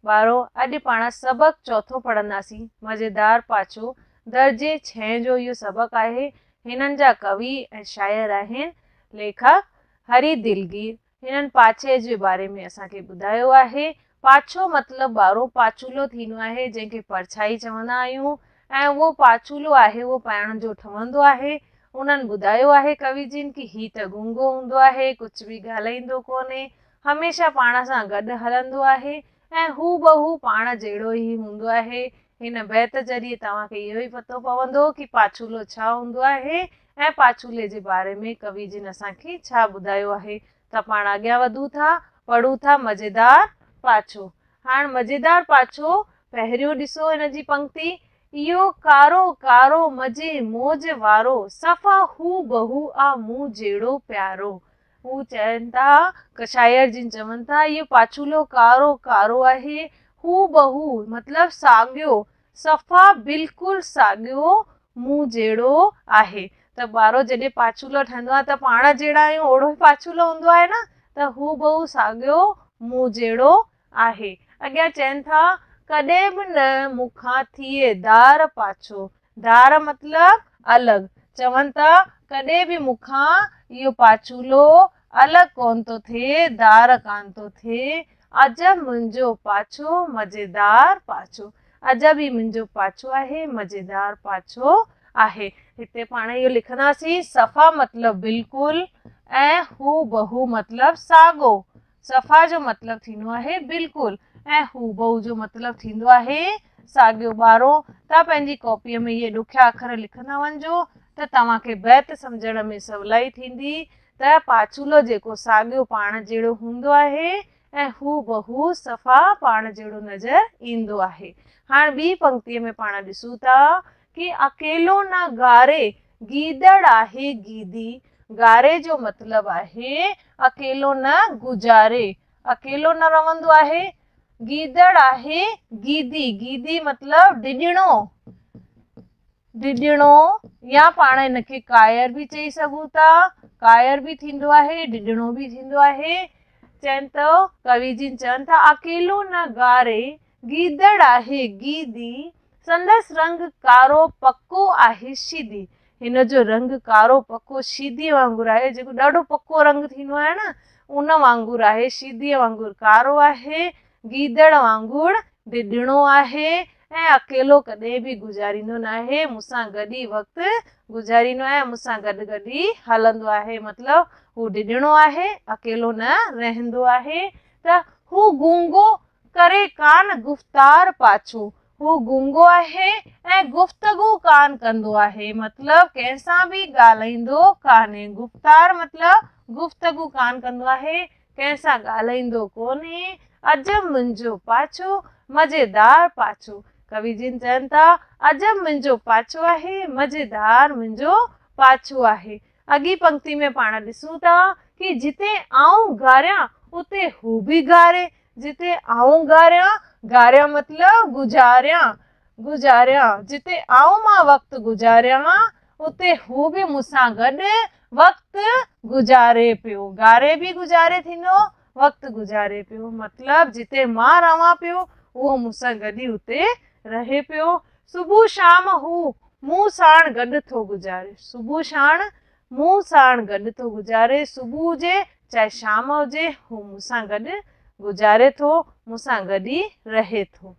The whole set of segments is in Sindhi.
وارو اڄ پاڻ سبق چوٿون پڙهنداسين. مزيدار پاڇو، درجي ڇهين جو اهو سبق آهي. هنن جا ڪوي ۽ شاعر آهن، ليکڪ، هري دلگير. هنن پاڇي جي باري ۾ اسان کي ٻڌايو آهي، پاڇو مطلب ٻارو پاڇولو ٿيندو آهي، جنهن کي پرڇائي چوندا آهيون ۽ اهو پاڇولو آهي اهو پائڻ جو ٺهندو آهي. انهن ٻڌايو آهي ڪوي جن ڪي هي ته گونگو هوندو آهي، ڪجهه به ڳالهائيندو ڪونهي. هميشه پاڻ سان گڏ هلندو آهي ۽ هو بهو پاڻ جهڙو ئي هوندو آهي. هن بيت ذريعي توهان کي اهو ئي پتو پوندو ڪي پاڇولو ڇا هوندو آهي ۽ پاڇولي جي باري ۾ ڪوي جن اسان کي ڇا ٻڌايو آهي ته پاڻ اڳيان وڌون ٿا پڙهون ٿا مزيدار پاڇو هاڻ مزيدار پاڇو پهريون ڏسو هن جي پنڪتي اهو ڪارو ڪارو مزي موج وارو صفا هو بهو آ مون جهڙو پيارو هو چون ٿا، شاعر جن چون ٿا، اهو پاڇولو ڪارو ڪارو آهي، هو بهو مطلب ساڳيو، صفا بلڪل ساڳيو مون جهڙو آهي. ته ٻارو جڏهن پاڇولو ٺهندو آهي ته پاڻ جهڙا آهيون اهڙو ئي پاڇولو هوندو آهي نه ته هو بهو ساڳيو مون جهڙو آهي. اڳيان چون ٿا، ڪڏهن به نه مون کان ٿئي دار پاڇو، ڌار مطلب الڳ. چون ته ڪڏهن به مون کان اهو پاڇولو الڳ ڪونه ٿو ٿئي، ڌار ڪانه ٿو ٿئي. عجب منهنجو پاڇو، مزيدار پاڇو. عجب هي منهنجو پاڇو آهي، مزيدار پاڇو آهي. هتي پاڻ اهو لکنداسين صفا مطلب بلڪل ۽ هو بهو مطلب ساڳو. صفا جو مطلب ٿيندو آهي بلڪل ۽ هوبهو جو مطلب ٿيندو آهي ساڳيو ٻارو توهان پنهنجي ڪاپيء ۾ اهي ڏکيا اکر لکندا وڃجو ته توهان کي بيت سمجهڻ ۾ سولائي ٿيندي ته پاڇولو جيڪو ساڳيو پاڻ جهڙو هوندو آهي ۽ هوبهو صفا پاڻ جهڙو نظر ايندو آهي هاڻ ٻي پنڪتيء ۾ پاڻ ڏسون ٿا ڪي اڪيلو نه گاري گيدڙ آهي گيدي گاري جو مطلب آهي اڪيلو نه گذاري اڪيلو نه رهندو آهي گيدڙ آهي گيدي گيدي مطلب ڊڄڻو ڊڄڻو يا پاڻ ان کي ڪائر به چئي سگهون ٿا ڪائر به ٿيندو آهي ڊڄڻو به ٿيندو آهي چئن ٿو ڪوي جن چون ٿا اڪيلو نه گاري گيدڙ آهي گيدي، سندس رنگ ڪارو پڪو آهي شيدي. هن جو رنگ ڪارو پڪو شيديء وانگر آهي، جيڪو ڏاڍو پڪو رنگ ٿيندو آهي نه، ان وانگر آهي، شيديء وانگر ڪارو آهي، گيدڙ وانگر ڊڄڻو آهي ۽ اڪيلو ڪڏهن به گذاريندو ناهي، مون سان گڏ ئي وقت گذاريندو آهي، مون سان گڏ گڏ ئي هلندو آهي، مطلب هو ڊڄڻو آهي، اڪيلو نه رهندو آهي، ته هو گونگو ڪري ڪانه گفتار پاڇو هو گونگو آهي ۽ گفتگو ڪانه ڪندو آهي مطلب ڪنهن سان به ڳالهائيندو ڪانهي گفتار مطلب گفتگو ڪانه ڪندو آهي ڪنهن سان ڳالهائيندو ڪونهي عجب منهنجو پاڇو مزيدار پاڇو ڪوي جن چون ٿا عجب منهنجو پاڇو آهي مزيدار منهنجو پاڇو آهي اڳين پنڪتي ۾ پاڻ ڏسون ٿا ڪي جتي آئون گاريان اتي هو به گاري، جتي آئون گاريان، گاريان مطلب گذاريان، گذاريان، جتي آئون مان وقت گذاريان اتي هو به مون سان گڏ وقت گذاري پيو، گاري به گذاري ٿيندو، وقت گذاري پيو مطلب جتي مان رهان پيو اهو مون سان گڏ ئي اتي رهي پيو صبح شام هو مون ساڻ گڏ ٿو گذاري صبح شاڻ مون ساڻ گڏ ٿو گذاري صبح هجي چاهي شام هجي هو مون سان گڏ گذاري ٿو مون سان گڏ ئي رهي ٿو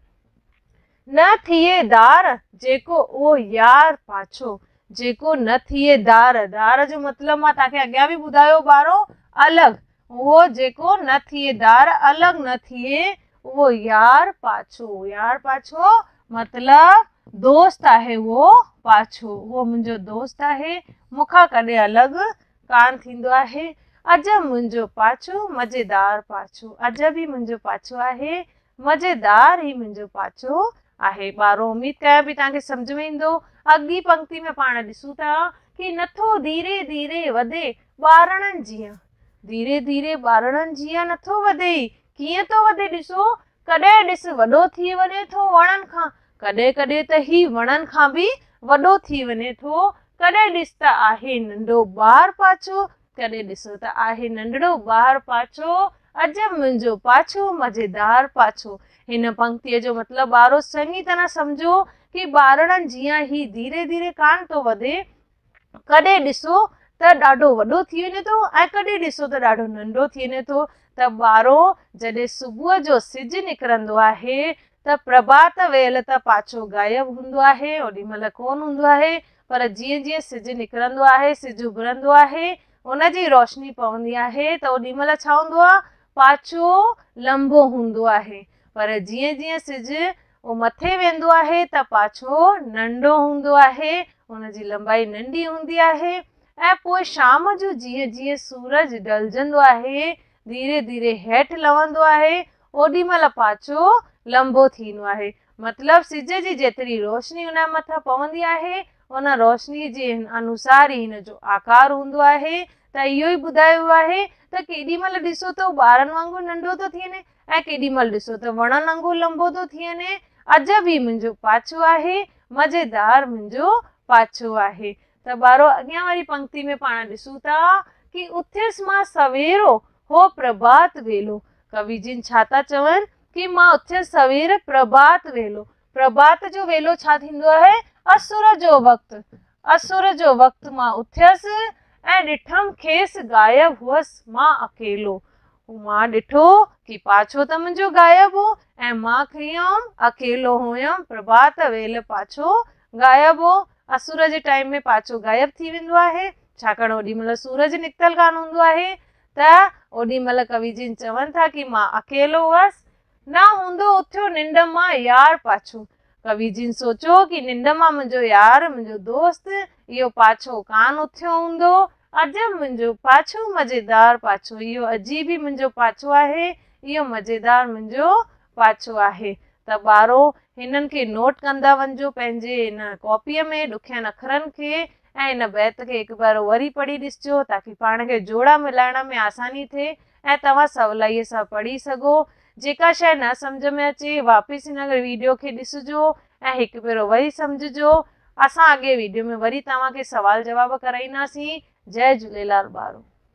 نه ٿئي دار جيڪو اهو يار پاڇو جيڪو نه ٿئي دار دار جو مطلب مان تان کي اڳيان به ٻڌايو ٻارو الڳ اهو جيڪو نه ٿئي ڌار الڳ نه ٿئي اهو يار پاڇو يار پاڇو مطلب دوست آهي اهو پاڇو اهو منهنجو دوست آهي مون کان ڪڏهن الڳ ڪان ٿيندو آهي عجب منهنجو پاڇو مزيدار پاڇو عجب ئي منهنجو پاڇو آهي مزيدار هي منهنجو پاڇو آهي ٻارو اميد ڪيان پئي تان کي سمجھ ۾ ايندو اڳي پنڪتي ۾ پاڻ ڏسون ٿا ڪي نٿو ڌيري ڌيري وڌي ٻارڙن جيان ڌيري ڌيري ٻارڙن جيان نٿو وڌي ئي ڪيئن ٿو وڌي ڏسو ڪڏهن ڏس وڏو ٿي وڃي ٿو وڻن کان ڪڏهن ڪڏهن ته هي وڻن کان به وڏو ٿي وڃي ٿو ڪڏهن ڏس ته آهي ننڍو ٻار پاڇو ڪڏهن ڏسو ته آهي ننڍڙو ٻار پاڇو عجب منهنجو پاڇو مزيدار پاڇو هن پنڪتيء جو مطلب ٻارو چڱي طرح سمجهو ڪي ٻارڙن جيان هي ڌيري ڌيري ڪانه ٿو وڌي ڪڏهن ڏسو ته ڏاڍو وڏو ٿي وڃي ٿو ۽ ڪڏهن ڏسو ته ڏاڍو ننڍو ٿي وڃي ٿو ته ٻارو جڏهن صبح جو سج نڪرندو آهي ته پرڀات ويل ته پاڇو غائب هوندو آهي اوڏي مهل ڪونه هوندو آهي پر جيئن جيئن سج نڪرندو آهي سج اڀرندو آهي ان جي روشني پوندي آهي ته اوڏي مهل ڇا هوندو آهي پاڇو لنبو هوندو آهي پر جيئن جيئن سج اهو مٿي ويندو آهي ته پاڇو ننڍو هوندو آهي، ان جي لنبائي ننڍي هوندي آهي ۽ پوء شام جو جيئن جيئن سورج ڍلجندو آهي، ڌيري ڌيري هيٺ لهندو آهي، اوڏي مهل پاڇو لنبو ٿي ويندو آهي. مطلب سج جي جيتري روشني ان مٿان پوندي آهي، ان روشني جي انوسار ئي هن جو آڪار هوندو آهي ته اهو ئي ٻڌايو ويو آهي ته ڪيڏي مهل ڏسو ته هو ٻارن وانگر ننڍو ٿو ٿي وڃي، ۽ ڪيڏي مھل ڏسو ته وڻن انگور لنبو ٿو ٿي وڃي. عجب ھي منھنجو پاڇو آھي، مزيدار منھنجو پاڇو آھي. ته ٻارو اڳيان واري پنڪتي ۾ پاڻ ڏسون ٿا ڪي اٿيس مان سويرو، ھو پرڀات ويلو. ڪوي جن ڇا ٿا چون ڪي مان اٿيس سوير، پرڀات ويلو. پرڀات جو ويلو ڇا ٿيندو آهي؟ اسور جو وقت. اسور جو وقت مان اٿيس ۽ ڏٺم کيس غائب هئس مان اڪيلو. مان ڏٺو ڪي پاڇو ته منهنجو غائب هو ۽ مان کيئم اڪيلو هئم پرڀات ويل پاڇو غائب هو. اسور جي ٽائيم ۾ پاڇو غائب ٿي ويندو آهي ڇاڪاڻ اوڏي مهل سورج نڪتل ڪانه هوندو آهي ته اوڏي مهل ڪوي جن چون ٿا ڪي مان اڪيلو هئس نه هوندو اٿيو ننڊ مان يار پاڇو. ڪوي جن سوچيو ڪي ننڊ مان منهنجو يار، منهنجو دوست، اهو پاڇو ڪانه اٿيو هوندو. عجب منهنجو پاڇو مزيدار پاڇو اهو عجيب ئي منهنجو پاڇو آهي اهو مزيدار منهنجو پاڇو آهي ته ٻارو هنن کي نوٽ ڪندا وڃجو پنهنجي ان ڪاپيء ۾ ڏکين اکرن کي ۽ ان بيت کي هڪ ڀيرو وري پڙهي ڏسجو تاڪي پاڻ کي جوڙا ملائڻ ۾ آساني ٿئي ۽ توهان سولائيء سان پڙهي سگهو. جيڪا شيء نه سمجهه ۾ اچي واپس هن ويڊيو کي ڏسجو ۽ هڪ ڀيرو وري سمجهجو. اسان اڳئين ويڊيو ۾ وري توهان کي سوال جواب ڪرائينداسين. جئه جهوليلال ٻارو.